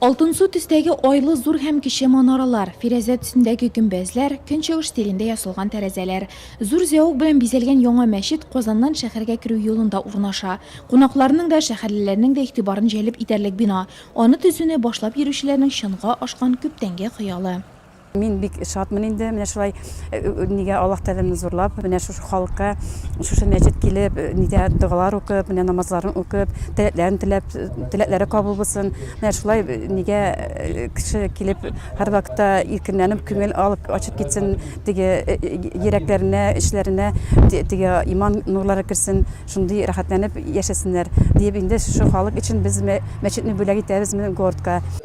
Алтынсу төстәге айлы зур һәм кече манаралар, фирәзә төсендәге гөмбәзләр, көнчыгыш стилендә ясалган тәрәзәләр, зур зәвык белән бизәлгән яңа мәчет Казаннан шәһәргә керү юлында урнаша. Кунакларның да, шәһәрлеләрнең дә игътибарын җәлеп итәрлек бина, аны төзүне башлап йөрүчеләрнең чынга ашкан күптәнге хыялы. Мин бик шатмын инде, менә шулай нигә Аллаһ Тәгаләне зурлап, менә шушы халыкка, шушы мәчет килеп, нидә догалар укып, менә намазларын укып, теләкләрен теләп, теләкләре кабул булсын. Менә шулай нигә кеше килеп һәрвакытта иркенләнеп күңел алып ачып китсен, теге йөрәкләренә, эчләренә теге иман нурлары керсен, шундый рәхәтләнеп яшәсеннәр диеп инде шушы халык өчен без мәчетне бүләк итәбез менә городка.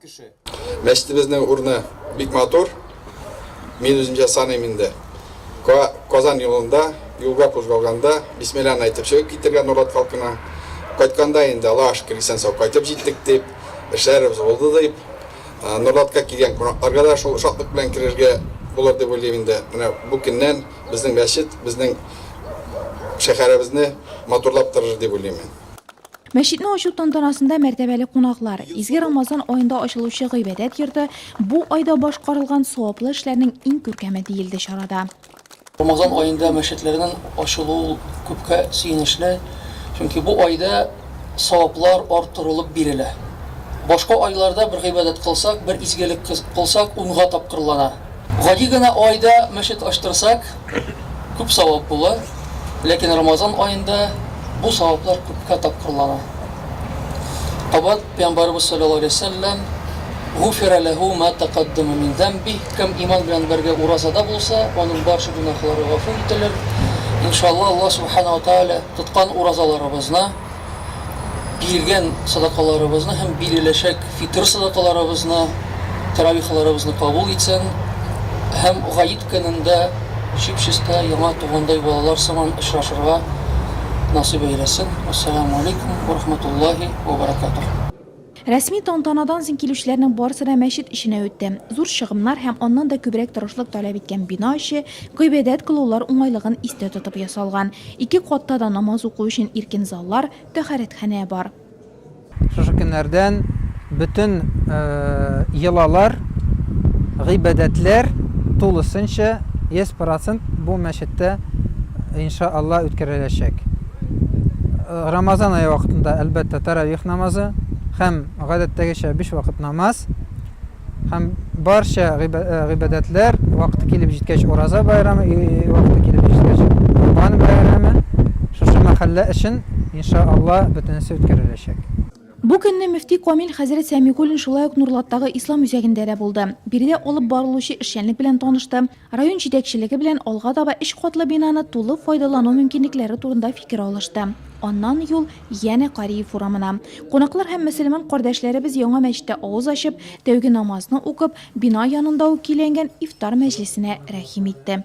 кеше. Мәчетебезнең урыны бик матур. Мин үзем җасаныйм инде. Ка, Казан юлында, юлга кузгалганда, бисмилланы әйтеп чыгып китергә Нурат халкына. Кайтканда инде, Аллага шөкер, исән-сау кайтып җиттек, дип, эшләребез булды, дип, Норатка килгән кунакларга да шул шатлык белән керергә булыр дип уйлыйм инде. Менә бу көннән безнең мәчет, безнең шәһәребезне матурлап торыр дип уйлыйм мин. Мәчетне ачу тантанасында мәртәбәле кунаклар, изге Рамазан аенда ачылучы гыйбадәт йорты, бу айда башкарылган саваплы эшләрнең иң күркәме, диелде чарада. Рамазан аенда мәчетләрнең ачылуы ул күпкә сөенечле, чөнки бу айда саваплар арттырылып бирелә. Башка айларда бер гыйбадәт кылсак, бер изгелек кылсак, унга тапкырлана. Гади генә айда мәчет ачтырсак, Күп савап була, ләкин Рамазан аенда бу саваплар күпкә тапкырлана. Кабат Пәйгамбәребез салләллаһу галәйһи ва сәлләм, Гуфира ләһү мә тәкаддәмә мин зәмбих, кем иман белән бергә уразада булса, аның барча гөнаһлары гафу ителер. Иншаллаһ, Аллаһ Сүбхәнәһү ва Тәгалә тоткан уразаларыбызны, биргән садакаларыбызны һәм биреләчәк фитр садакаларыбызны, таравихаларыбызны кабул итсен һәм Гает көнендә чип-чиста яңа тугандай балалар сыман очрашырга насыйп әйләсен. Ассаламу алейкум ва рахматуллаһи ва баракатуһ. Рәсми тантанадан соң килүчеләрнең барысы да мәчет эченә үтте. Зур чыгымнар һәм аннан да күбрәк тырышлык таләп иткән бина эче гыйбадәт кылулар уңайлыгын истә тотып ясалган. Ике катта да намаз уку өчен иркен заллар, тәһарәтханә бар. Шушы көннәрдән бөтен йолалар, гыйбадәтләр тулысынча, йөз процент бу мәчеттә, иншаАллаһ, үткәреләчәк. Рамазан ае вакытында, әлбәттә, таравих намазы һәм гадәттәгечә биш вакыт намаз һәм барча гыйбадәтләр вакыты килеп җиткәч ураза байрамы вакыты килеп җиткәч Корбан бәйрәме шушы мәхәллә өчен иншаалла бөтенесе үткәреләчәк. Бу көнне мөфти Камил хәзрәт Сәмигуллин шулай ук Нурлаттагы Ислам үзәгендә дә булды. Биредә алып барылучы эшчәнлек белән танышты, Район җитәкчелеге белән алга таба өч катлы бинаны тулы файдалану мөмкинлекләре турында фикер алышты. Аннан юл янә Кариев урамына. Кунаклар һәм мөселман кардәшләребез яңа мәчеттә авыз ачып, тәүге намазны укып, бина янында ук көйләнгән ифтар мәҗлесенә рәхим итте.